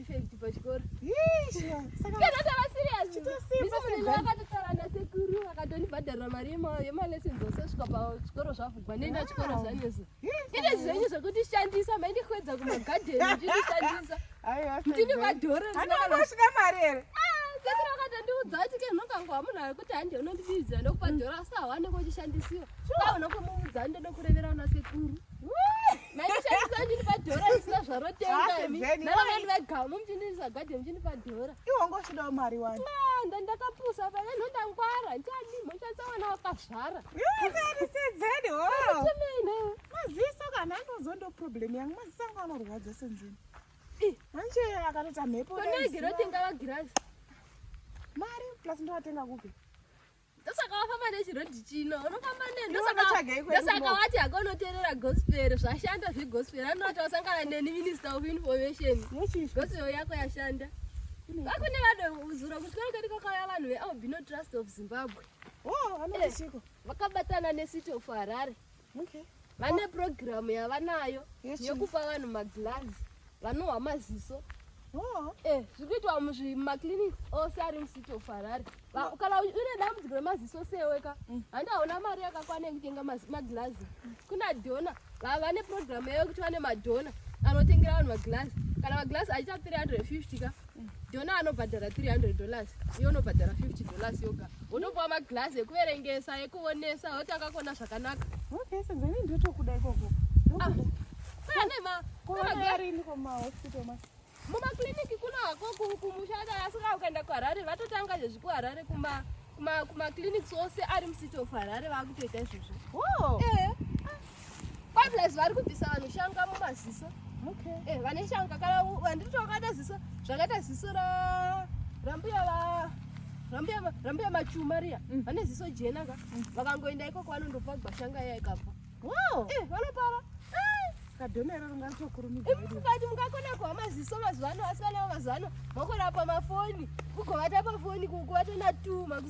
effect pachikoro akatotaura nasekuru akatondibhadharira mari yemalessons osasvika pachikoro zvavhugwa nenda chikoro zvanyeso ine zvenyu zvekutishandisa maindikwedza kumagadheni uchitishandisa ndini madhoro ndinoasvika mari here sekuru akatondiudza kuti ke nokangwa munhu ari kuti handi unondibidzira ndokupa dhoro asi hawanenge uchishandisiwa kaunokumumudza ndodokurevera una sekuru iwongochidawo mari wani ndandakapusa pane nhondangwara ndiani mhoshatsawana wakazvara maziso kana anozo ndo problem yangu maziso angu anorwadza senzini manje akatoita mhepo mari plus ndovatenga kupi ndosaka wafamba nechirodhi chino unofamba nendosaka wati hako unoteerera gospel zvashanda zvegospel anoti wasangana neni minister of information gospel yako yashanda vakune vanozura kuti kwerekati kwakauya vanhu vealbino trust of zimbabwe oh, eh, vakabatana necity of harare okay. vane program yavanayo yekupa vanhu maglazi vanohwa maziso oh. eh, zviri kuitwa mumaclinics ose ari mucity of harare kana une dambudziko remaziso seweka mm. handi hauna mari yakakwana yekutenga maglazi kuna dona vane program yayo yekuti vane madona anotengera vanhu maglazi kana maglazi achiita 350 ka Dona anobhadhara 300 dollars, iyo unobhadhara 50 dollars yoga. Unopuwa maglass ekuverengesa, ekuonesa, woti akakona zvakanaka. Okay, so then ndotokuda ikoko. Ah, kwaya nema. Kwaya rini kwa ma hospital ma. Muma clinic kuna hako kumushada asika ukaenda kwa Harare vatotanga zvezvi ku Harare kuma kuma kuma clinics ose ari mu city of Harare vakutoita izvozvo. Oh. Eh. Pablaz vari kubvisa vanhu shanga mumaziso. Okay. Eh, vane shanga kana vandiri tokata ziso zvakaita ziso ra rambuya va rambuya rambuya machuma riya. Mm. Vane ziso jena ka. Mm. Vakangoenda ikoko vanondopa gwashanga iya ikapa. Wow. Eh, vanopara. Eh. Kadhonero ringazokurumidza. Eh, mukati mukakona kuva maziso mazuva ano asi vana mazuva ano makorapa mafoni. Kugovata pafoni kuvatona tuma.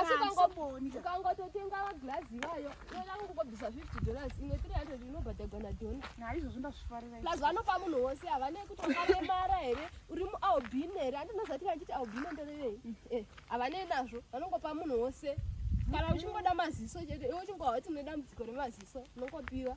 asi ukangototenga maglazi iwayo yoda kungobvisa 50 dollars imwe 300 inobhadhagwa nadona naizvozvo ndazvifarira plus vanopa munhu wose havane kuti wakaremara here uri mualbin here andinozati vachiti albin nderevei mm. eh, havane nazvo vanongopa munhu wose kana uchingoda maziso chete iwe uchingohwa kuti une dambudziko remaziso unongopiwa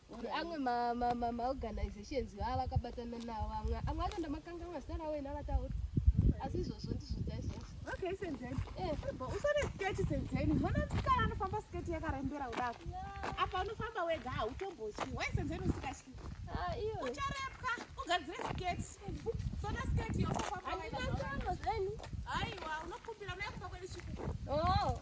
kuti amwe maorganizations vaa vakabatana navo vamwe amwe acho ndamakangamwa zita ravo ina vataura asi izvozvo ndizvo taizvozvo okay senzeni eh. usane sketi senzeni zvona musikana anofamba sketi yakarembera kudako apa unofamba wega hautombotyi why senzeni usikatyi ah, iyo ucharepwa ugadzire sketi sona sketi yokokwaaaiwa unokumbira unayakuba kwedu chikuku oh.